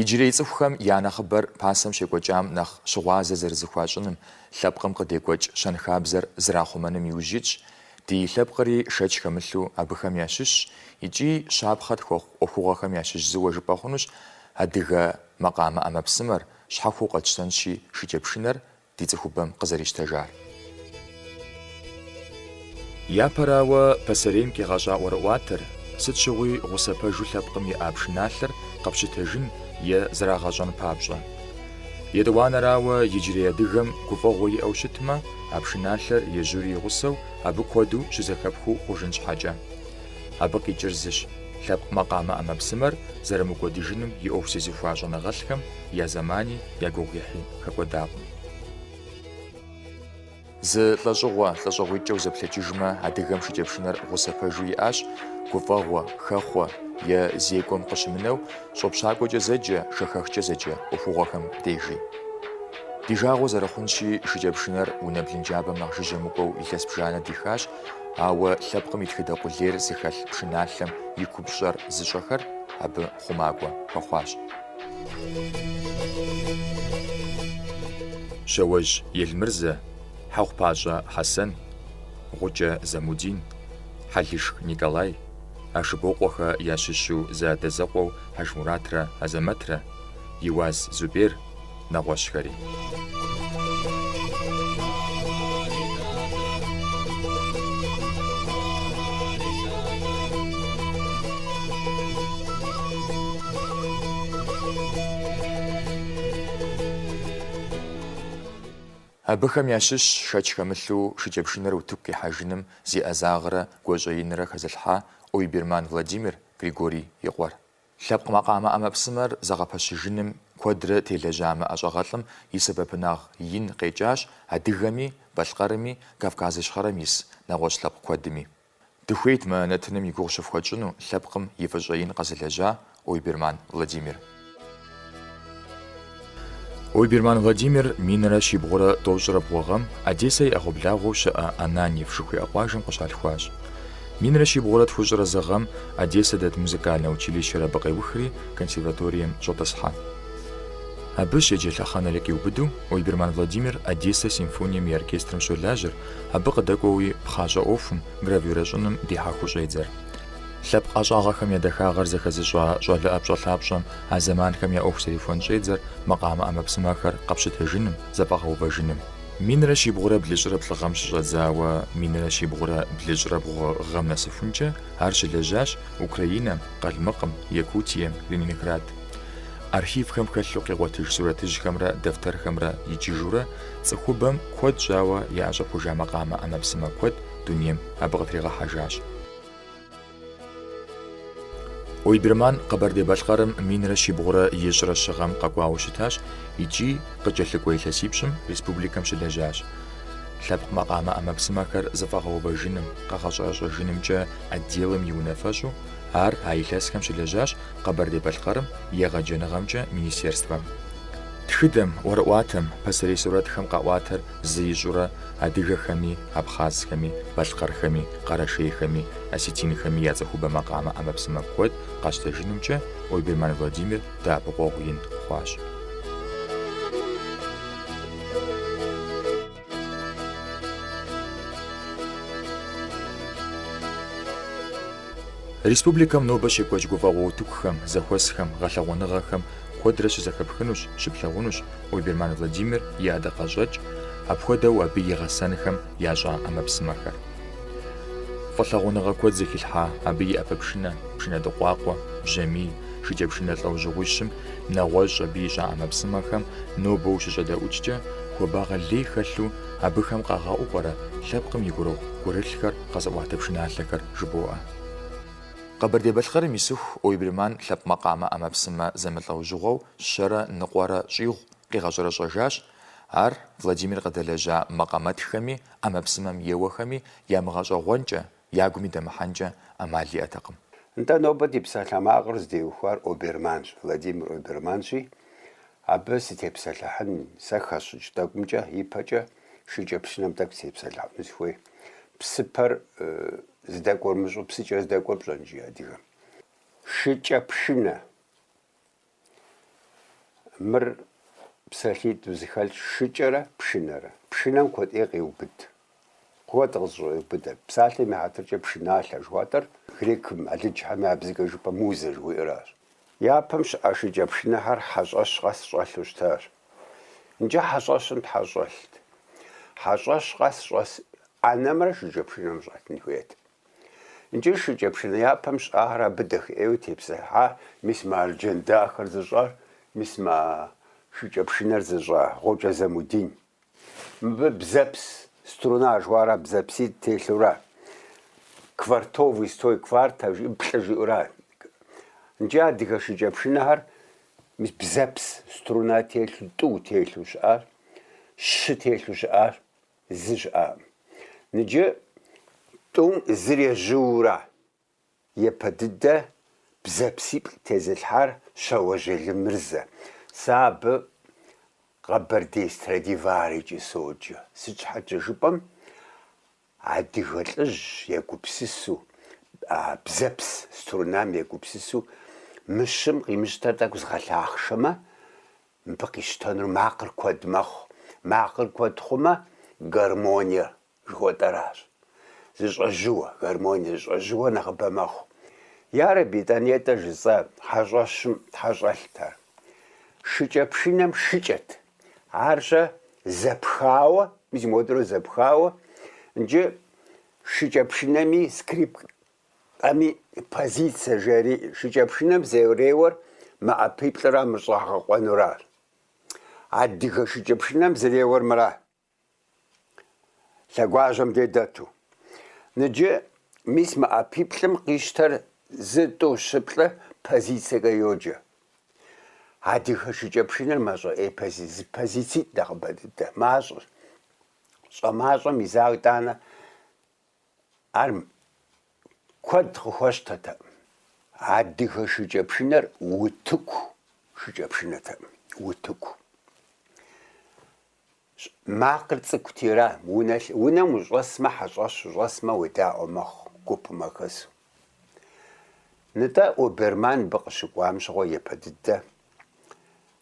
Иджырей цӏыхухэм я нэхъыбэр пасэм щекӏуэкӏам нэхъ щыгъуазэ зэрызыхуащӏыным, лъэпкъым къыдекӏуэкӏ щэнхабзэр зэрахъумэным иужь итщ, ди лъэпкъри шэч хэмылъу абыхэм ящыщщ икӏи щапхъэ тхуэхъу ӏуэхугъуэхэм ящыщ зыуэ жыпӏэ хъунущ адыгэ макъамэ ӏэмэпсымэр, щхьэхуэу къэтщтэнщи шыкӏэпшынэр, ди цӏыхубэм къызэрищтэжар. Япэрауэ, пасэрейм къигъэщӏа ӏуэрыӏуатэр, сыт щыгъуи гъусэ пэжу лъэпкъым иӏа пшыналъэр къэпщытэжын е зэрагъэщӏэн папщӏэ. Етӏуанэрауэ, иджырей адыгэм гуфӏэгъуэ иӏэу щытмэ, а пшыналъэр ежьури и гъусэу, абы куэду щызэхэпхыу хъужын щхьэкӏэ. Абы къикӏыр зыщ, лъэпкъ макъамэ ӏэмэпсымэр зэрымыкӏуэдыжыным и ӏуэху зезыхуа щӏэныгъэлӏхэм я зэмани я гугъуехьи хэкӏуэдакъым. Зы лӏэщӏыгъуэ, лӏэщӏыгъуитӏкӏэ узэплъэкӏыжмэ, адыгэм шыкӏэпшынэр гъусэ пэжу иӏащ, гуфӏэгъуэ, хэхъуэ, е зекӏуэм къыщымынэу, щӏопщакӏуэкӏэ зэджэ, шэхэхкӏэ зэджэ ӏуэхугъуэхэм дежи. Ди жагъуэ зэрыхъунщи, шыкӏэпшынэр унэ блынджабэм нэхъ жыжьэ мыкӏуэу илъэс бжанэ дихащ Ауэ лъэпкъым и тхыдэ къулейр зыхэлъ пшыналъэм и купщӏэр зыщӏэхэр абы хъумакӏуэ хуэхъуащ. Щауэжь Елмырзэ, Хьэхъупащӏэ Хьэсэн, Гъукӏэ Замудин, Хьэлышх Николай, Ашыбокъуэхэ ящыщу зэадэзэкъуэу Хьэжмуратрэ Азэмэтрэ, Иуаз Зубер, нэгъуэщӏхэри. Абыхэм ящыщщ шэч хэмылъу шыкӏэпшынэр утыку къихьэжыным зи ӏэзагърэ гуащӏэ инрэ хэзылъхьа Ойберман Владимир, Григорий и къуэр. Лъэпкъ макъамэ ӏэмэпсымэр зэгъэпэщыжыным куэдрэ телэжьа мы ӏэщӏагъэлӏым и сэбэпынагъ ин къекӏащ адыгэми, балъкъэрми, Кавказ Ищхъэрэм ис нэгъуэщӏ лъэпкъ куэдми. Дыхуейт мы нэтыным и гугъу щыфхуэтщӏыну лъэпкъым и фӏыщӏэ ин къэзылэжьа Ойберман Владимир. Ойберман Владимир минрэ щибгъурэ тӏощӏрэ бгъу гъэм Одессэ и ӏэгъуэблагъэу щыӏэ Ананьев жыхуиӏэ къуажэм къыщалъхуащ. Минрэ щибгъурэ тхущӏрэ зы гъэм Одессэ дэт музыкальнэ училищэр абы къеухри, консерваторием щӏэтӏысхьэ. Абы щеджэ лъэхъэнэри къиубыду, Ойберман Владимир Одессэ симфонием и оркестрым щолажьэр, абы къыдэкӏуэуи пхъащӏэ ӏуэхум, гравюрэщӏыным дихьэхыу щӏедзэр. Лъэпкъ ӏэщӏагъэхэм я дахагъэр зэхэзыщӏа щӏалэ ӏэпщӏэлъапщӏэм а зэманхэм я ӏуэху зэрихуэн щӏедзэр макъамэ ӏэмэпсымэхэр къэпщытэжыным, зэфӏэгъэувэжыным. Минрэ щибгъурэ блыщӏрэ плӏы гъэм щыщӏэдзауэ минрэ щибгъурэ блыщӏрэ бгъу гъэм нэсыхункӏэ ар щылэжьащ Украинэм, Къалмыкъым, Якутием, Ленинград. Архивхэм хэлъу къигъуэтыж сурэтыжьхэмрэ дэфтэрхэмрэ иджыжурэ цӏыхубэм куэд щӏауэ яӏэщӏэхужа макъамэ ӏэмэпсымэ куэд дунейм абы къытригъэхьэжащ. Ойберман Къэбэрдей-Балъкъэрым минрэ щибгъурэ ищӏрэ щы гъэм къэкӏуауэ щытащ икӏи къыкӏэлъыкӏуэ илъэсипщӏым республикэм щылэжьащ. Лъэпкъ макъамэ ӏэмэпсымэхэр зэфӏэгъэувэжыным, къэгъэщӏэрэщӏэжынымкӏэ отделым и унафэщӏу ар а илъэсхэм щылэжьащ Къэбэрдей-Балъкъэрым и егъэджэныгъэмкӏэ министерствэм. Тхыдэм, ӏуэрыӏуатэм, пасэрей сурэтхэм къаӏуатэр зы ищӏурэ адыгэхэми, абхъазхэми, балъкъэрхэми, къэрэшейхэми, осетинхэми я цӏыхубэ макъамэ ӏэмэпсымэ куэд къащтэжынымкӏэ Ойберман Владимир дэӏэпыкъуэгъу ин хъуащ. Республикэм нобэ щекӏуэкӏ гуфӏэгъуэ утыкухэм, зэхуэсхэм, гъэлъэгъуэныгъэхэм куэдрэ щызэхэпхынущ, щыплъэгъунущ, Ойберман Владимир и ӏэдакъэщӏэкӏ, апхуэдэу абы и гъэсэнхэм ящӏа ӏэмэпсымэхэр. Фӏылъагъуныгъэ куэд зыхилъхьа абы и ӏэпэпшынэ, пшынэдыкъуакъуэ, бжьамий, шыкӏэпшынэ лӏэужьыгъуищым, нэгъуэщӏ абы ищӏа ӏэмэпсымэхэм нобэ ущыщӏэдэӏукӏэ, хуабагъэ лей хэлъу абыхэм къагъэӏуу пӏэрэ лъэпкъым и гурыгъу гурылъхэр къэзыӏуатэ пшыналъэхэр жыбоӏэ. Къэбэрдей-Балъкъэрым исыху Ойберман лъэпкъ макъамэ ӏэмэпсымэ зэмылӏэужьыгъуэу Щэрэ ныкъуэрэ щӏигъу къигъэщӏэрэщӏэжащ. Ар Владимир къыдэлэжьа макъамэтхэми, ӏэмэпсымэм еуэхэми ямыгъэщӏэгъуэнкӏэ, ягуми дэмыхьэнкӏэ ӏэмал иӏэтэкъым. Нтӏэ, нобэ ди псалъэмакъыр зытеухуар Оберманщ, Владимир Оберманщи, абы сытепсэлъыхьын, сэ хэсщӏыкӏ тӏэкӏумкӏэ, ипэкӏэ шыкӏэпшынэм тӏэкӏу сытепсэлъыхьыну сыхуей. Псыпэр здэкӏуэр умыщӏэу, псыкӏэр здэкӏуэр пщӏэн, жи адыгэм. Шыкӏэпшынэ. Мыр псалъитӏу зэхэлъ шыкӏэрэ пшынэрэ. Пшынэм куэд ӏей къеубыд. Куэд къызэщӏеубыдэ. Псалъэм и хьэтыркӏэ пшыналъэ жыхуаӏэр грекым, алыджхэм я бзэкӏэ жыпӏэ музэ жыхуиӏэращ. Япэм щыӏа шыкӏэ пшынэхэр хьэщӏэщ къэс щӏэлъу щытащ. Нджэ хьэщӏэщым тхьэ щӏэлът. Хьэщӏэщ къэс щӏэс ӏэнэмрэ шыкӏэ пшынэм щӏэлъын хуейт. Икӏи шыкӏэ пшынэ япэм щыӏахэр абы дахэ ӏейуэ тепсэлъхьа мис мы арджэн дахэр зыщӏар, мис мы шыкӏэ пшынэр зыщӏа Гъукӏэ Замудин. Мыбы бзэпс, струна жыхуаӏэра бзэпситӏ телъура, квартовый строй, кварта жи, плӏы жиӏэура. Икӏи адыгэ шыкӏэ пшынэхэр мис бзэпс, струна телъу, тӏу телъу щыӏащ, щы телъу щыӏащ. Зы щыӏакъым. Ныджы тӏум зыр ежьыура епэ дыдэ бзэпсиплӏ тезылъхьар Щэуэжь Елмырзэ. Сэ абы Къэбэрдей Страдиварикӏэ соджэ. Сыт щхьэкӏэ жыпӏэм, адыгэ лӏыжь егупсысу, бзэпс струнам егупсысу мы щым къимыщтэр тӏэкӏу згъэлъахъшэмэ, Мыбы къищтэнур макъыр куэд мэхъу. Макъыр куэд хъумэ, гармониэ жыхуэтӏэращ. Зэщӏэжьыуэ, гармониэ зэщӏэжьыуэ нэхъыбэ мэхъу. Ярэби, тӏанэ нтӏэ жысӏэ, хьэщӏэщым щхьэ щӏэлът ар. Шыкӏэ пшынэм шыкӏэт. Ар щэ зэпхауэ, мис модэру зэпхауэ, ныджы шыкӏэ пшынэми скрипкэ Кэми позицэ жери, шыкӏэпшынэм зэреуэр мы ӏэпиплӏыра, мыр щӏагъэкъуэнура. Адыгэ шыкӏэпшынэм зэреуэр мыра. Лъэгуажьэм дей дэту. Ныджы, мис мы ӏэпиплӏым къищтэр зы, тӏу, щы, плӏы позицэкӏэ йоджэ. Адыгэ шыкӏэпшынэр мащӏэ ӏей пози, зы позицитӏ нэхъыбэ дыдэ, мащӏэщ. Щӏэмащӏэм и заг тӏанэ Ар куэд къыхуэщтэтэкъым. Адыгэ шыкӏэпшынэр утыку шыкӏэпшынэтэкъым, утыку. Макъыр цӏыкӏути ара, унэ, унэм ущӏэсмэ хьэщӏэщ, ущӏэсмэ уедаӏуэ мэхъу, гупым уахэсу. Нытӏэ, Оберман мыбы къыщыкӏуам щыгъуэ епэ дыдэ,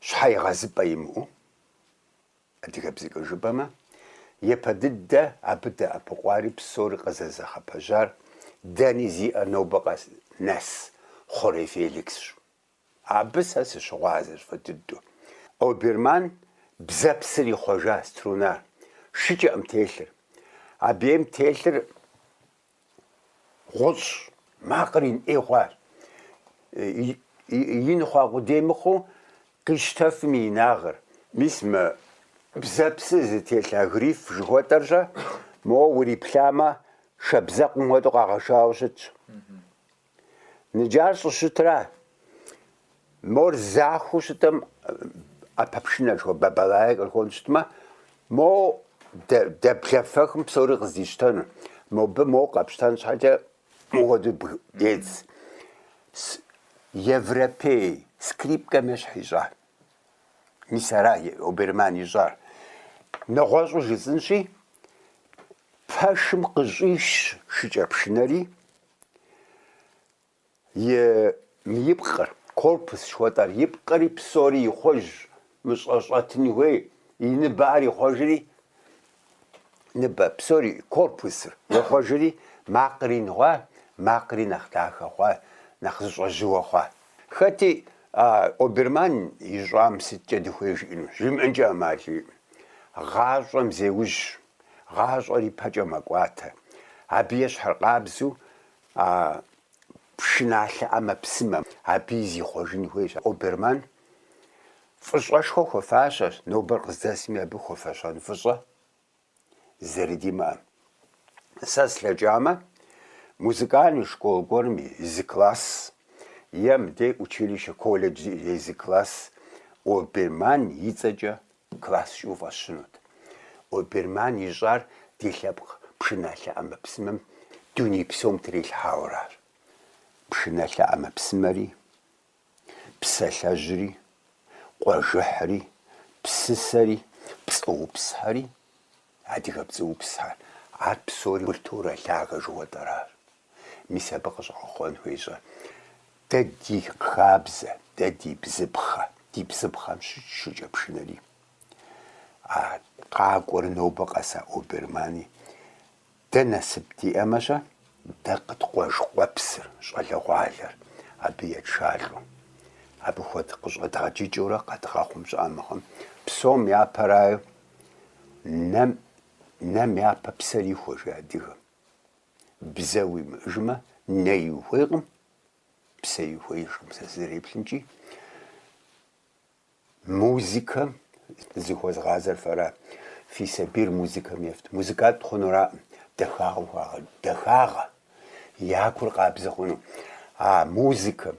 щхьэегъэзыпӏэ имыӏэу, Адыгэбзэкӏэ жыпӏэмэ, япэ дыдэ абы дэӏэпыкъуари псори къызэзыгъэпэщар дэни зиӏэ нобэ къэс нэс Хъурей Феликсщ. Абы сэ сыщыгъуазэщ фӏы дыдэу. Оберман бзэпсыр ихъуэжа струнар, шыкӏэкъым телъыр. Абы ейм телъыр Гъущӏ. Макъыр ин ӏей хъуащ. Ин хъуа къудей мыхъуу къищтэфым и инагъыр. Мис мы бзэпсыр зытелъ а гриф жыхуэтӏэр-щэ, моуэ уриплъамэ, шабзэкъым хуэдэу къагъэшауэ щытщ. Ныджы ар щӏыщытра? Мор захуэу щытым ӏэпэпшынэр жыхуэ бабалае кърыхуэн щытмэ, мо дэблэфэхым псори къыздищтэну. Мобы мо къэпщтэн щхьэкӏэ мыпхуэду дедз. Европей скрипкэм ещхь ищӏа? Мис ара Оберман ищӏар? Нэгъуэщӏу жысӏынщи, пэшым къыщӏиш шыкӏэпшынэри, И ипкъыр, корпус жыхуэтӏар, ипкъыри псори ихъуэж, мы щӏэ щӏэтын хуей, и ныбэхэр ихъуэжри, ныбэ, псори, корпусыр, ихъуэжри, макъри ин хъуа, макъри нэхъ дахэ хъуа, нэхъ зыщӏэжьыуэ хъуа. Хэти а Оберман ищӏам сыткӏэ дыхуей жиӏэну? Жимыӏэнкӏэ ӏэмал иӏым. Гъащӏэм зеужь, гъащӏэр ипэкӏэ мэкӏуатэ. Абы ещхьыркъабзэу а пшыналъэ ӏэмэпсымэ абыи зихъуэжын хуейщ. Оберман фӏыщӏэшхуэ хуэфащэщ, нобэр къыздэсми абы хуэфэщэн фӏыщӏэ зэрыдимыӏэр. Сэ слъэкӏамэ, музыкальный школ гуэрым и зы класс е мыдей училище, колледж зи и зы класс Оберман и цӏэкӏэ класс жиӏу фӏэсщынут. Оберман ищӏар ди лъэпкъ пшыналъэ ӏэмэпсымэм дуней псом трилъхьауэращ. Пшыналъэ ӏэмэпсымэри. Псалъэжьри, къуажэхьри, псысэри, пцӏыупсхэри, адыгэ пцӏыупсхэр, ар псори культурэ лъагэ жыхуэтӏэращ. Мис абы къыщӏэгъэхъуэн хуейщ дэ ди хабзэ, дэ ди бзыпхъэ, ди бзыпхъэм щыщ шыкӏэпшынэри. А къакӏуэр нобэ къэса Обермани Дэ насып диӏэмэ-щэ, дэ къыткъуэж къуэпсыр, щӏалэгъуалэр, абы етшалӏэу. Абы хуэд къыщӏэдгъэджыкӏыурэ къэдгъэхъум щӏыӏэ мыхъым, псом япэрауэ, нэм, нэм япэ псэр ихуэ, жи адыгэм. Бзэ уимыӏыжмэ, нэи ухуейкъым, псэи ухуеижкъым, сэ сызэреплъымкӏи. Музыкэм зыхуэзгъазэр фэра? Фи сабийр музыкэм ефт. Музыкант хъунураӏым, дахагъэм хуагъэсэну. Дахагъэ! Я гур къабзэ хъуну. А музыкэм,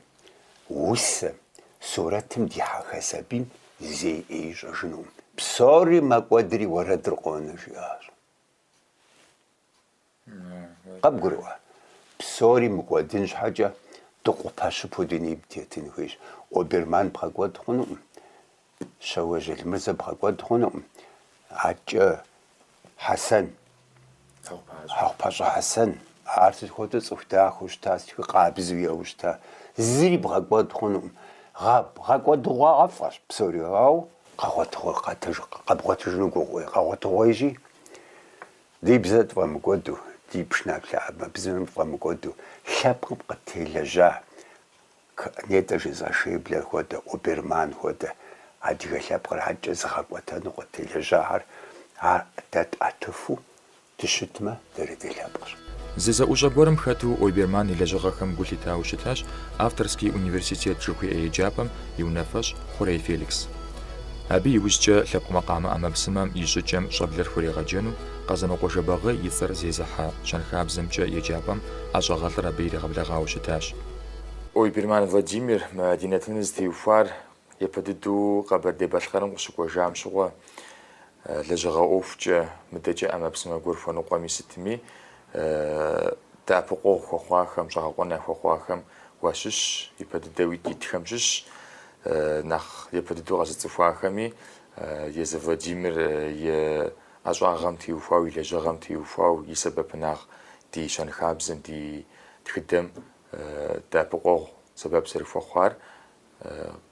усэм, сурэтым дихьэха сабийм зэи ӏей ищӏэжынукъым. Псори мэкӏуэдри уэрэдыр къонэ, жиӏащ. Къыбгурыӏуэ, псори мыкӏуэдын щхьэкӏэ дыкъупэ щыпу дунейм тетын хуейщ. Оберман бгъэкӏуэд хъунукъым, Щэуэжь Елмырзэ бгъэкӏуэд хъунукъым, адэкӏэ Хьэсэн, Хьэхъупащӏэ Хьэсэн, ар сыт хуэдэу цӏыху дахэу щыта, сыт хуэдэу къабзэу еуэу щыта, зыри бгъэкӏуэд хъунукъым. Гъэ, гъэкӏуэдыгъуафӏэщ псори, ауэ къэгъуэт, къэбгъуэтыжыну гугъуей, къэгъуэтыгъуейщи, Ди бзэр тфӏэмыкӏуэду, ди пшыналъэхэм я бзэр тфӏэмыкӏуэду лъэпкъым къытелэжьа нетӏэ жысӏа Шейблер хуэдэ, Оберман хуэдэ адыгэ лъэпкъыр адэкӏэ зыгъэкӏуэтэну къытелэжьахэр а дэ тӏэтыфу дыщытмэ, дэри дылъэпкъщ. Зы зэӏущӏэ гуэрым хэту Оберман и лэжьыгъэхэм гу лъитауэ щытащ Авторский университет жыхуиӏэ еджапӏэм и унафэщӏ Хъурей Феликс. Абы иужькӏэ лъэпкъ макъамэ ӏэмэпсымэм и щӏыкӏэм щӏэблэр хурегъэджэну Къэзанокъуэ Жэбагъы и цӏэр зезыхьэ щэнхабзэмкӏэ еджапӏэм ӏэщӏагъэлӏыр абы иригъэблэгъауэ щытащ. Ойберман Владимир мы ди нэтыныр зытеухуар япэ дыдэу Къэбэрдей-Балъкъэрым къыщыкӏуэжам щыгъуэ, лэжьыгъэ ӏуэхукӏэ, мыдэкӏэ ӏэмэпсымэ гуэр хуэныкъуэми сытми, дэӏэпыкъуэгъу хуэхъуахэм, щӏэгъэкъуэн яхуэхъуахэм уащыщщ, япэ дыдэу итхэм щыщщ. Нэхъ япэ дыдэу къэзыцӏыхуахэми Езы Владимир и ӏэщӏагъэм теухуауэ, и лэжьыгъэм теухуауэ, и сэбэпынагъ ди щэнхабзэм, ди тхыдэм дэӏэпыкъуэгъу сэбэп зэрыхуэхъуар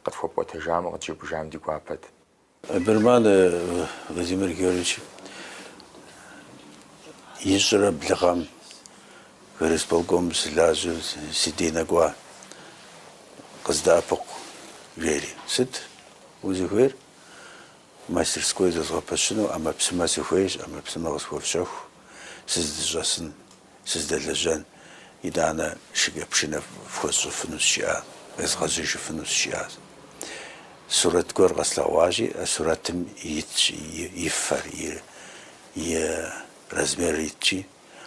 къытхуэпӏуэтэжамэ, къытжепӏыжам ди гуапэт. Берман Владимир Георгиевич ищӏрэ блы гъэм горисполкомым сылажьэу си дей нэкӏуа, къыздэӏэпыкъу, жери. Сыт узыхуейр? Мастерской зэзгъэпэщыну ӏэмэпсымэ сыхуейщ, ӏэмэпсымэ къысхуэфщэху, сыздыщӏэсын. сыздэлэжьэн, итӏанэ шыкӏэпшынэ фхуэсщӏыфынущ, жиӏащ, къезгъэжьэжыфынущ, жиӏащ. Сурэт гуэр къэслъэгъуащи, а сурэтым итщ и фэр, и размерыр итщи,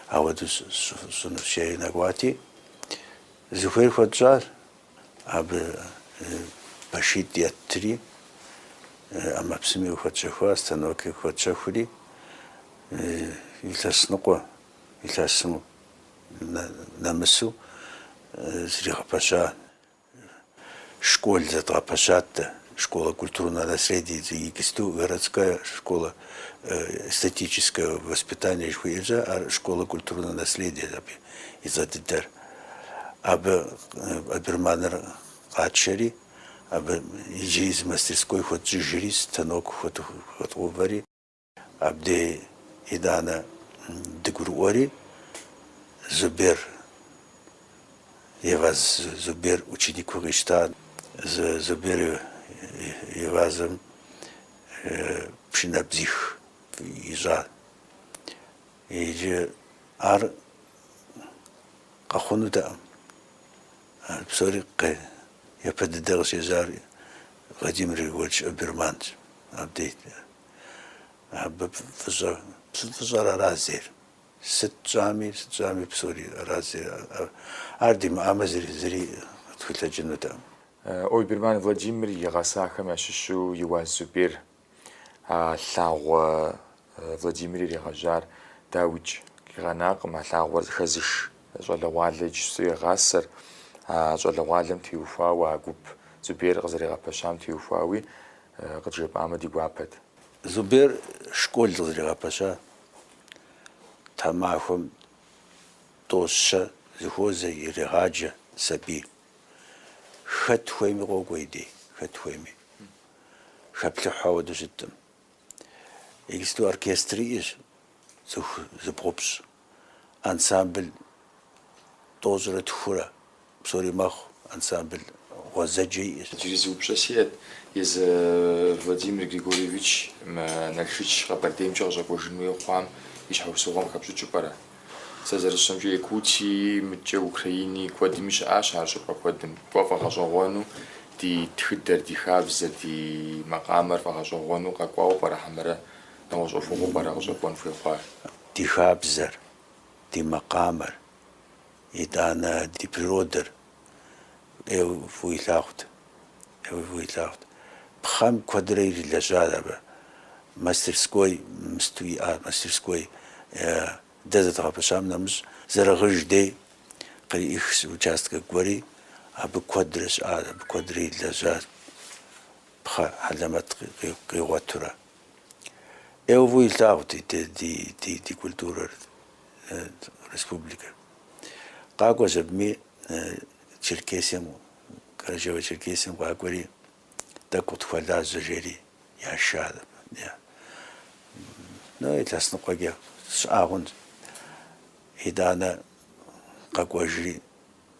апхуэдэу сщӏынущ, жери нэкӏуати, зыхуейр хуэтщӏащ. Абы пэшитӏ еттри, ӏэмэпсыми къыхуэтщэхуащ, станокыр къыхуэтщэхури, илъэс ныкъуэ илъэсым нэмысу зригъэпэща школ зэдгъэпэщат дэ, Школа культурного наследия и искусств, городская школа эстетического воспитания жыхуиӏэкӏэ, ар школа культурного наследия абы и цӏэ дыдэр. Абы Оберманыр къатшэри, абы иджыри зы мастерской хуэтщӏыжри, станок хуэдгъэуври. Абдей, итӏанэ дыгурыӏуэри, Зубер, Еваз, Зубер ученикыу къищта. Зубер Евазым пшынэбзих ищӏа. Иджы ар къэхъунутэкъым. Ар псори япэ дыдэ къыщежьар Владимир Григорьевич Ойберманщ, Абдей. Абы фӏыщӏэ, псы фӏыщӏэр ара зейр. Сыт тщӏами, сыт тщӏами псори ара зейр. Ар димыӏамэ зыри, зыри къыдэхъулӏэнутэкъым. Ойберман Владимир и гъэсахэм ящыщу Еуаз Зубер, а лъагъуэ Владимир иригъэжьар дауикӏ къигъэнакъым, а лъагъуэр хэзыш щӏалэгъуалэ иджы езым игъасэр, а щӏалэгъуалэм теухуауэ, а гуп Зубер къызэригъэпэщам теухуауи, къыджепӏамэ ди гуапэт. Зубер школ къызэригъэпэща тхьэмахуэм тӏэу-щэ зэхуозэ, ирегъаджэ сабий. Хэт хуейми къокӏуэ и дей, хэт хуейми. Хэплъыхьу ауэдэу щыткъым. Иджыпсту оркестр иӏэщ, цӏыху зыбгъупщӏ. ансамбль тӏощӏрэ тхурэ, псори мэхъу, ансамбль гъуэзэджэ иӏэщ. Иджыри зы упщӏэ сиӏэт, езы Владимир Григорьевич мы Налшыч Къэбэрдеймкӏэ къыщӏэкӏуэжын хуей хъуам и щхьэусыгъуэм хэпщӏыкӏыу пӏэрэ? Сэ зэрысщӏэмкӏэ, Якутии, мыдкӏэ Украини куэдми щыӏащ ар щӏыпӏэ куэдым. Кӏуэ фӏэгъэщӏэгъуэну, ди тхыдэр, ди хабзэр, ди макъамэр фӏэгъэщӏэгъуэну къэкӏуауэ пӏэрэ хьэмэрэ нэгъуэщӏ ӏуэхугъуэу пӏэрэ къыщӏэкӏуэн хуей хъуар? Ди хабзэр, ди макъамэр, итӏанэ ди природэр ӏейуэ фӏыуэ илъагъут, ӏейуэ фӏыуэ илъагъут. Пхъэм куэдрэ ирилэжьа абы. Мастерской мысту иӏа, мастерской дэ зэдгъэпэщам нэмыщӏ, Зэрэгъыж дей къриӏих зы участкэ гуэри, абы куэдрэ щыӏа, абы куэдрэ ирилэжьа, пхъэ хьэлэмэт къигъуэтурэ. ӏейуэ фӏыуэ илъагъут ди те- ди- ди- ди культурэр, э, республикэр. Къакӏуэщ абыми э, Черкесием, Карачаево-Черкесием къакӏуэри, тӏэкӏу къытхуэлажьэ жери яша. Е. Ну, илъэс ныкъуэкӏэ щыӏа хъунщ. Итӏанэ къэкӏуэжри,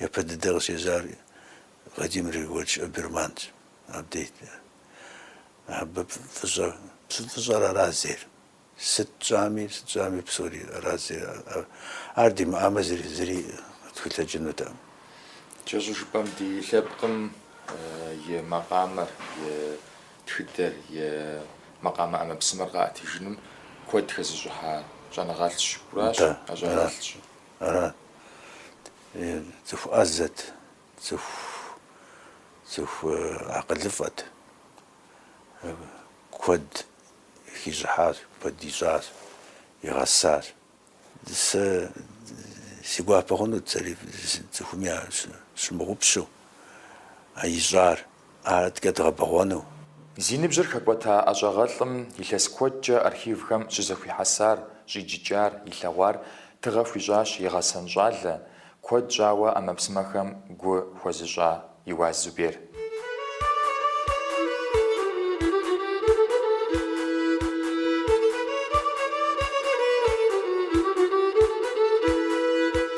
Япэ дыдэ къыщежьар Владимир Григорьевич Ойберманщ. Абдейт. Абы фӏыщӏэ, псы фӏыщӏэр аращ зейр. Сыт тщӏами, сыт щӏами псори аращ зейр. Ар димыӏамэ зыри, зыри тхулъэкӏынутэкъым. Кӏэщӏу жыпӏэм, ди лъэпкъым и макъамэр, и тхыдэр, и макъамэ ӏэмэпсымэр къаӏэтыжыным куэд хэзыщӏыхьа щӏэныгъэлӏщ. Аращ, ӏэщӏагъэлӏщ. Арат. Е, цӏыху ӏэзэт, цӏыху, цӏыху акъылыфӏэт. Абы куэд хищӏыхьащ, куэд ищӏащ, игъэсащ. Сэ си гуапэ хъунут сэри цӏыхум ящымыгъупщэу, а ищӏар. ар адэкӏэ дгъэбэгъуэну. Зи ныбжьыр хэкӏуэта ӏэщӏагъэлӏым илъэс куэдкӏэ архивхэм щызэхуихьэсар, щӏиджыкӏар, илъэгъуар тыгъэ хуищӏащ и гъэсэн щӏалэ, куэд щӏауэ ӏэмэпсымэхэм гу хуэзыщӏа Еуаз Зубер.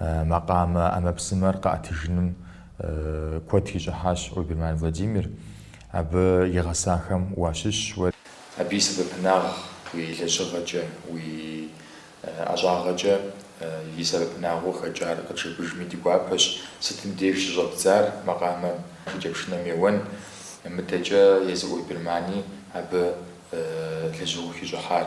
макъамэ ӏэмэпсымэр къэӏэтыжыным куэд хищӏыхьащ Ойберман Владимир, абы и гъэсахэм уащыщщ уэ. Абы и сэбэпынагъ уи лэжьыгъэкӏэ, уи ӏэщӏагъэкӏэ и сэбэпынагъыу хэкӏар къыджепӏэжми ди гуапэщ, сытым деж щыщӏэбдзар макъамэм, шыкӏэпшынэм еуэн, мыдэкӏэ езы Ойбермани абы лэжьыгъэу хищӏыхьар.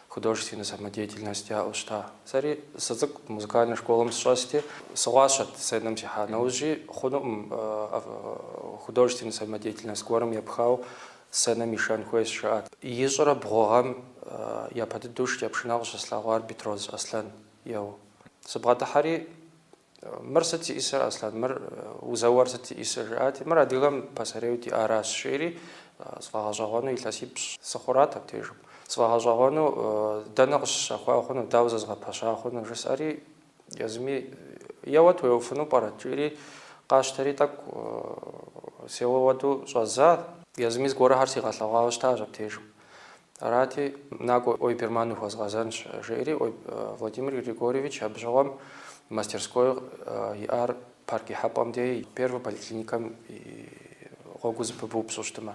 Художественнэ самодеятельность яӏэу щыта. Сэри сыцӏыкӏу музыкальнэ школэм сыщӏэсти, сыгъуащэт сценэм сихьа нэужьи, хъунукъым художественнэ самодеятельность гуэрым епхауэ сценэм ишэн хуейщ, жаӏат. Ищӏрэ бгъу гъэм япэ дыдэу шыкӏэпшынэ къыщыслъэгъуар Бетроз Аслъэн еуэу. Сыбгъэдыхьэри, Мыр сыт зиӏисыр, Аслъан, мыр узэуэр сыт зиӏисыр? жысӏати, мыр адыгэм пасэрейуэ диӏаращ, жери, сфӏэгъэщӏэгъуэну илъэсипщӏ сыхъурат абдежым. Сфӏэгъэщӏэгъуэну дэнэ къыщыщэхуа хъуну, дауэ зэзгъэпэща хъуну? жысӏэри, езыми, Еуэт, уеуэфыну пӏэрэ? жиӏэри, къасщтэри тӏэкӏу сеуэ хуэдэу щӏэздза. Езыми зыгуэрхэр сигъэлъэгъуауэ щытащ абдежым. Арати, накӏуэ Ойберман ухуэзгъэзэнщ, жеӏэри Владимир Григорьевич абы щыгъуэм мастерской иӏар парк ихьэпӏэм дей Первэ поликлиникэм и гъуэгу зэпыбупщӏу щытымэ.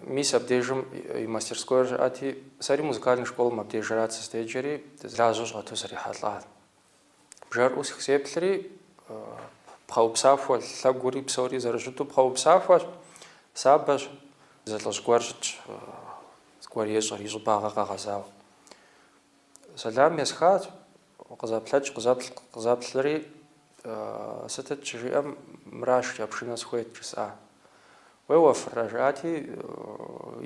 Мис абдежым и мастерскойр щыӏэти, сэри музыкальный школэм абдежрат сыздеджэри, лажьэу щӏэту срихьэлӏа. Бжэр ӏусх, сеплъри, пхъэупсахуэ лъэгури псори зэрыщыту пхъэупсахуэщ, сабэщ, зы лӏыжь гуэр щытщ, зыгуэр ещӏыр, и щӏыбагъ къэгъэзауэ. Сэлам есхащ, къызэплъэкӏ, къызэплъ, къызэплъри, сытыт щыжиӏэм, мыра, шыкӏэ пшынэ сыхуейт, жысӏа. Уеуэфрэ, жыӏати,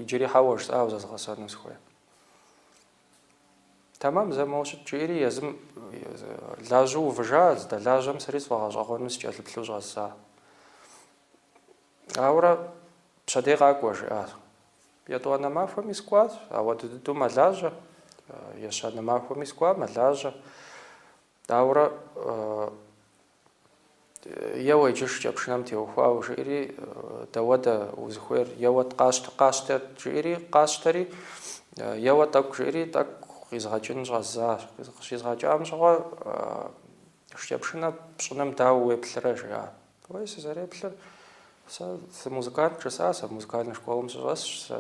иджыри хьэуэ, жысӏа, зезгъэсэну сыхуейт. Тэмам, зэ моуэ щыт, жиӏэри езым лажьэу увыжа, здэлажьэм сэри сфӏэгъэщӏэгъуэну сыкӏэлъыплъу щӏэздза. Ауэрэ пщэдей къакӏуэ, жиӏащ. Етӏуанэ махуэми сыкӏуащ, ауэдэу дыдэу мэлажьэ, ещанэ махуэми сыкӏуа, мэлажьэ. Ауэрэ Еуэ иджы шыкӏэ пшынэм теухуауэ, жиӏэри, дауэдэ узыхуейр, еуэ къащтэ, къащтэ, жиӏэри, къащтэри, еуэ тӏэкӏу, жиӏэри, тӏэкӏу къизгъэкӏын щӏэздзащ. Къыщизгъэкӏам щыгъуэ, шыкӏэ пшынэ пщӏыным дауэ уеплърэ, жиӏат. Уей, сызэреплъыр, сэ сымузыкант, жысӏащ, сэ музыкальнэ школым сыщӏэсщ, сэ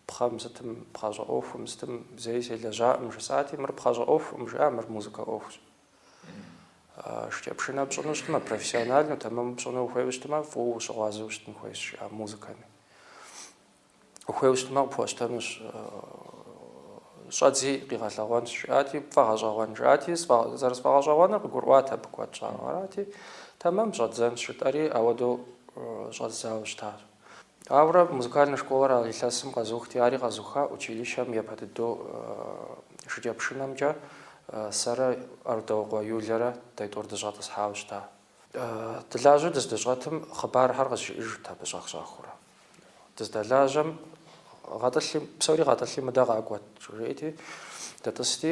пхъэм сытым, пхъэщӏэ ӏуэхум сытым зэи селэжьакъым, жысӏати, мыр пхъэщӏэ ӏуэхукъым, жиӏа, мыр музыкэ ӏуэхущ. Шыкӏэ пшынэ пщӏыну щытмэ, профессиональнэу тэмэму пщӏыну ухуейуэ щытмэ, фӏыуэ ущыгъуазэу щытын хуейщ, жиӏа музыкэми. Ухуейуэ щытмэ, къыпхуэщтэнущ. Щӏэдзи къигъэлъэгъуэнщ, жиӏати, пфӏэгъэщӏэгъуэн, жиӏати, зэрысфӏэгъэщӏэгъуэныр къыгурыӏуат абы куэд щӏауэ. Арати, тэмэм щӏэддзэнщ, жытӏэри, ауэдэу щӏэздзауэ щытащ. Ауэрэ музыкальнэ школэр а илъэсым къэзухти, ари къэзуха училищэм япэ дыдэу шыкӏэпшынэмкӏэ сэрэ Арудауэкъуэ Юлэрэ дэ тӏур дыщӏэтӏысхьауэ щыта. Дылажьэу дыздыщӏэтым, хъыбархэр къызжиӏэжырт абы щӏэх-щӏэхыурэ. Дыздэлажьэм, гъэтӏылъи, псори гъэтӏылъи мыдэ къакӏуэт, жиӏэти, дытӏысти,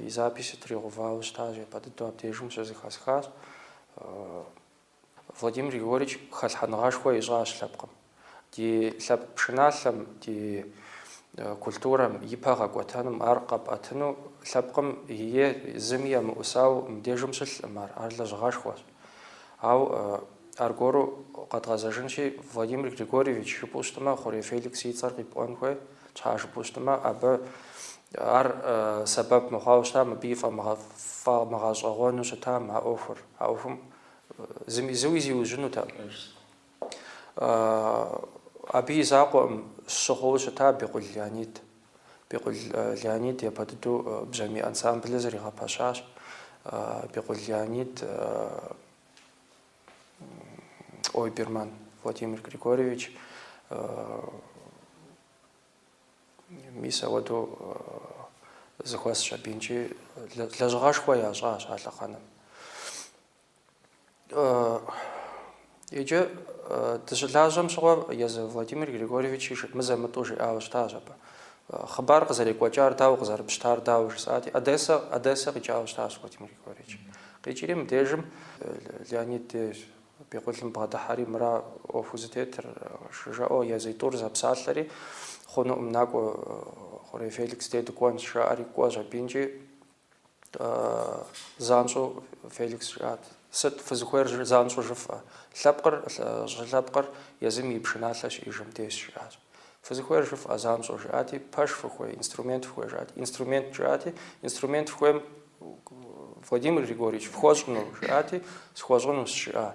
и записи тригъэувауэ щытащ, япэ дыдэу абдежым щызэхэсхащ. Владимир Григорьевич хэлъхьэныгъэшхуэ ищӏащ лъэпкъым. Ди лъэпкъ пшыналъэм, ди культурэм ипэ гъэкӏуэтэным, ар къэпӏэтыну лъэпкъым е зыми емыӏусауэ мыбдежым щылъкъым ар, ар лэжьыгъэшхуэщ. Ауэ аргуэру къэдгъэзэжынщи, Владимир Григорьевич жыпӏэу щытмэ, Хъурей Феликс и цӏэр къипӏуэн хуей, щхьэ жыпӏэу щытмэ, абы ар сэбэп мыхъуауэ щытам, абы и фӏэмыгъ- фӏэмыгъэщӏэгъуэну щытам а ӏуэхур. А ӏуэхум зыми зыуи зиужьынутэкъым. Абы и закъуэӏым, щӏыгъуу щыта Бекъул Леонид. Бекъул Леонид япэ дыдэу бжьамий ансамблыр зэригъэпэщащ. Бекъул Леонид Ойберман Владимир Григорьевич мис ауэдэу зыхуэсщ абы инкӏи лэжьыгъэшхуэ ящӏащ а лъэхъэнэм. Иджы дыщылажьэм щыгъуэ езы Владимир Григорьевичи щы мызэ-мытӏэу жиӏауэ щытащ абы. Хъыбар къызэрекӏуэкӏар дауэ, къызэрыпщтар дауэ жысӏати, Одессэ, Одессэ къикӏауэ щытащ Владимир Григорьевич. Къикӏри мыбдежым Леонид дей Бекъулым бгъэдыхьэри, мыра ӏуэхуу зытетыр, жаӏэу езы тӏур зэпсалъэри, Хъунуӏым, накӏуэ, Хъурей Феликс дей дыкӏуэнщ, жаӏэри, кӏуэщ абы инкӏи. занщӏэу Феликс жиӏат. Сыт фызыхуейр занщӏэу жыфӏэ? Лъэпкъыр щылъэпкъыр езым и пшыналъэ щиӏэжым дежщ, жиӏащ. Фызыхуейр жыфӏэ занщӏэу жиӏати, пэш фыхуей, инструмент фыхуей жиӏати, инструмент жиӏати, инструмент фыхуейм Владимир Григорьевич, фхуэщӏыну жиӏати, схуэщӏынущ жиӏа.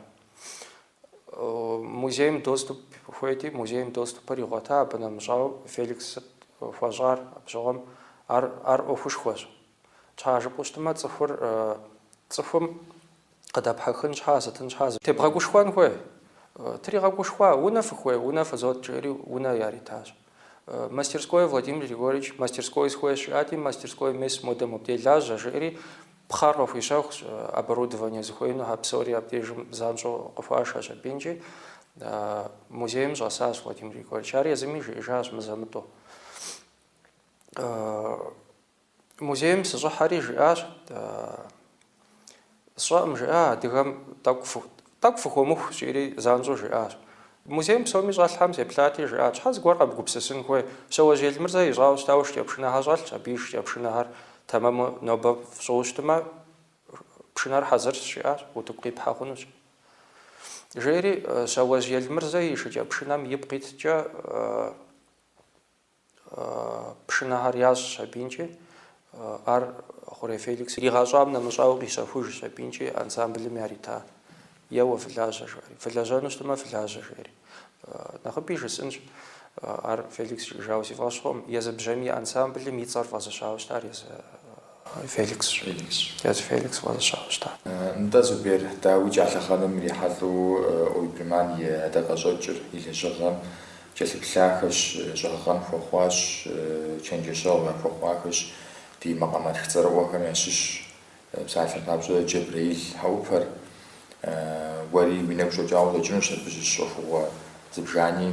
Музейм доступ хуейти, музейм доступыр игъуэта, абы нэмыщӏауэ Феликс сыт хуэщӏар абщыгъуэм, ар, ар ӏуэхушхуэщ. Тщхьа жыпӏэу щытмэ, цӏыхур, цӏыхум къыдэпхьэхын щхьа, зиӏэтын щхьа зэ тебгъэгушхуэн хуей. Тригъэгушхуа, унэ фыхуей, унэ фызот, жиӏэри унэ яритащ. Мастерской, Владимир Григорьевич, мастерской сыхуейщ, жиӏати, мастерской мес модэ мобдей лажьэ, жиӏэри Пхъэр къыхуищэхущ, оборудование зыхуеинухэр псори абдежым занщӏэу къыхуашэщ абы инкӏи. Музейм щӏэсащ Владимир Григорьевич. Ар езыми жиӏэжащ мызэ-мытӏэу. Музейм сыщӏыхьэри жиӏащ, сщӏэкъым жиӏа адыгэм тӏэкӏу Тӏэкӏу фыхуэмыхущ, жиӏэри, занщӏэу жиӏащ. Музейм псоми щӏэлъхэм сеплъати, жиӏат, Щхьэ зыгуэр къэбгупсысын хуей? Щэуэжь Елмырзэ ищӏауэ щытауэ шыкӏэпшынэхэр щӏэлъщ, абы и шыкӏэпшынэхэр тэмэму нобэ фщӏыуэ щытмэ, пшынэр хьэзырщ, жиӏащ, утыку къипхьэ хъунущ. Жери, Щэуэжь Елмырзэ и шыкӏэпшынэм ипкъ иткӏэ, Пшынэхэр ящӏщ абы инкӏи. Ар Хъурей Феликс иригъэщӏам нэмыщӏауэ къищэхужщ абы инкӏи ансамблым ярита. Еуэ, фылажьэ, жаӏэри. Фылэжьэну щытмэ, фылажьэ, жаӏэри. Нэхъыби жысӏынщ, ар Феликс жиӏэжауэ си фӏэщ хъуӏым, езы бжьамий ансамблым и цӏэр фӏэзыщауэ щытар езы Феликсщ. Дяд Феликс фӏэзыщауэ щыта? Нтӏэ, Зубер, дауикӏ, а лъэхъэнэм ирихьэлӏэу Ойберман и ӏэдакъэщӏэкӏыр и лэжьыгъэм кӏэлъыплъахэщ, щӏэгъэкъуэн хуэхъуащ, чэнджэщэгъу яхуэхъуахэщ, ди макъамэтх цӏэрыӏуэхэм ящыщ, псалъэм папщӏэ Джэбрэил Хьэӏупэр. Уэри уи нэгу щӏэкӏауэ къыщӏэкӏынущ абы щыщ ӏуэхугъуэ зыбжани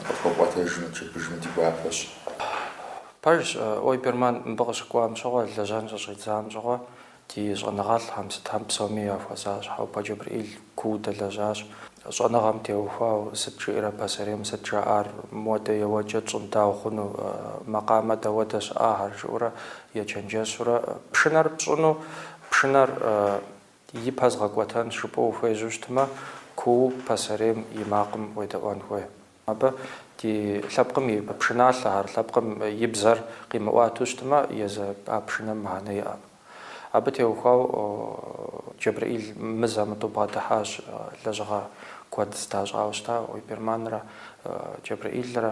къытхуэпӏуэтэжым, чырбыжым ди гуапэщ. Пэжщ, Ойберман мыбы къыщыкӏуам щыгъуэ, лэжьэн щыщӏидзам щыгъуэ, ди щӏэныгъэлӏхэм, сытхэм псоми яхуэзащ. Хьэупэ Джэбрэӏил куууэ дэлэжьащ, щӏэныгъэм теухуау, сыт жиӏэрэ пасэрейм сыт жаӏар, мыуэдэ еуэкӏэ тщӏым дауэ хъуну, макъамэ дауэдэ щыӏахэр, жиӏэурэ ечэнджэщурэ, пшынэр пщӏыну, пшынэр ипэ згъэкӏуэтэн жыпӏэу ухуежьэу щытмэ, куууэ пасэрейм и макъым уедэӏуэн хуей. Абы ди лъэпкъым и пшыналъэхэр, лъэпкъым и бзэр къимыӏуатэу щытмэ, езы а пшынэм мыхьэнэ иӏэкъым. Абы теухуау Джэбрэӏил мызэ-мытӏэу бгъэдыхьащ, лэжьыгъэ куэд зэдащӏауэ щыта Ойберманрэ Джэбрэӏилрэ.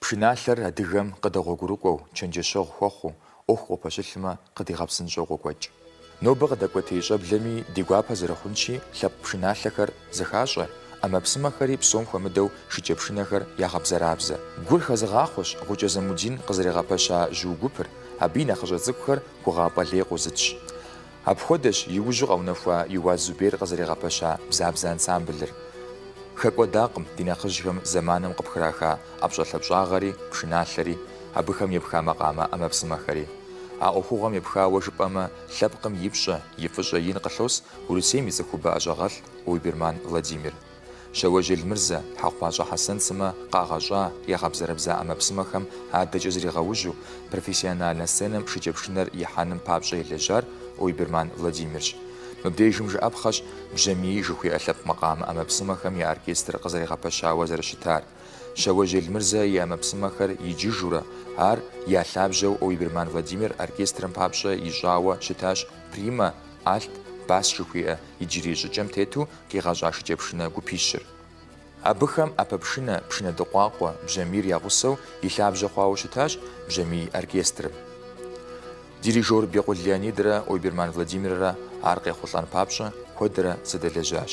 Пшыналъэр адыгэм къыдэгъуэгурыкӏуэу, чэнджэщэгъу хуэхъуу, ӏуэху къопэщылъмэ, къыдигъэпсынщӏэу къокӏуэкӏ. Нобэ къыдэкӏуэтей щӏэблэми ди гуапэ зэрыхъунщи, лъэпкъ пшыналъэхэр зэхащӏэ, ӏэмэпсымэхэри псом хуэмыдэу шыкӏэпшынэхэр ягъэбзэрабзэ. Гур хэзыгъахъуэщ Гъукӏэ Замудин къызэригъэпэща Жьыу гупыр, абы и нэхъыщӏэ цӏыкӏухэр гугъапӏэ лей къозытщ. Апхуэдэщ иужьу къэунэхуа Еуаз Зубер къызэригъэпэща Бзабзэ ансамблыр. Хэкӏуэдакъым ди нэхъыжьхэм зэманым къыпхраха ӏэпщӏэлъапщӏагъэри, пшыналъэри, абыхэм епха макъамэ ӏэмэпсымэхэри. А ӏуэхугъуэм епхауэ жыпӏэмэ, лъэпкъым и пщӏэ, и фӏыщӏэ ин къылъос Урысейм и цӏыхубэ ӏэщӏагъэлӏ Ойберман Владимир. Щауэжь Елмырзэ, Хьэхъупащӏэ Хьэсэн сымэ къагъэщӏа ягъэбзэрэбза ӏэмэпсымэхэм адэкӏэ зригъэужьу, профессиональнэ сценэм шыкӏэпшынэр ихьэным папщӏэ елэжьар Ойберман Владимирщ. Мыбдежым жыӏэпхъэщ Бжьамий жыхуиӏэ лъэпкъ макъамэ ӏэмэпсымэхэм я оркестр къызэригъэпэщауэ зэрыщытар. Щауэжь Елмырзэ и ӏэмэпсымэхэр иджыжурэ, ар я лъабжьэу Ойберман Владимир оркестрым папщӏэ ищӏауэ щытащ Прима, Альт, Бас жыхуиӏэ иджырей щӏыкӏэм тету къигъэщӏа шыкӏэпшынэ гупищыр. Абыхэм ӏэпэпшынэ, пшынэдыкъуакъуэ, бжьамийр я гъусэу и лъабжьэ хъуауэ щытащ бжьамий оркестрым. Дирижёр Бекъул Леонидрэ Ойберман Владимиррэ ар къехъулӏэн папщӏэ куэдрэ зэдэлэжьащ.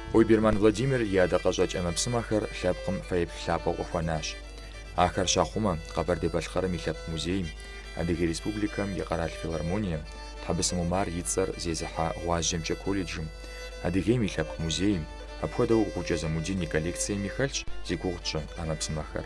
Ойберман Владимир и ӏэдакъэщӏэкӏ ӏэмэпсымэхэр лъэпкъым фэеплъ лъапӏэу къыхуэнащ. Ахэр щахъумэ, Къэбэрдей-Балъкъэрым и Лъэпкъ музейм, Адыгэ Республикэм и Къэрал филармонием, Тхьэбысым Умар и цӏэр зезыхьэ Гъуазджэмкӏэ колледжым, Адыгейм и Лъэпкъ музейм, апхуэдэу Гъукӏэ Замудин и коллекциеми хэлъщ зи гугъу тщӏы ӏэмэпсымэхэр.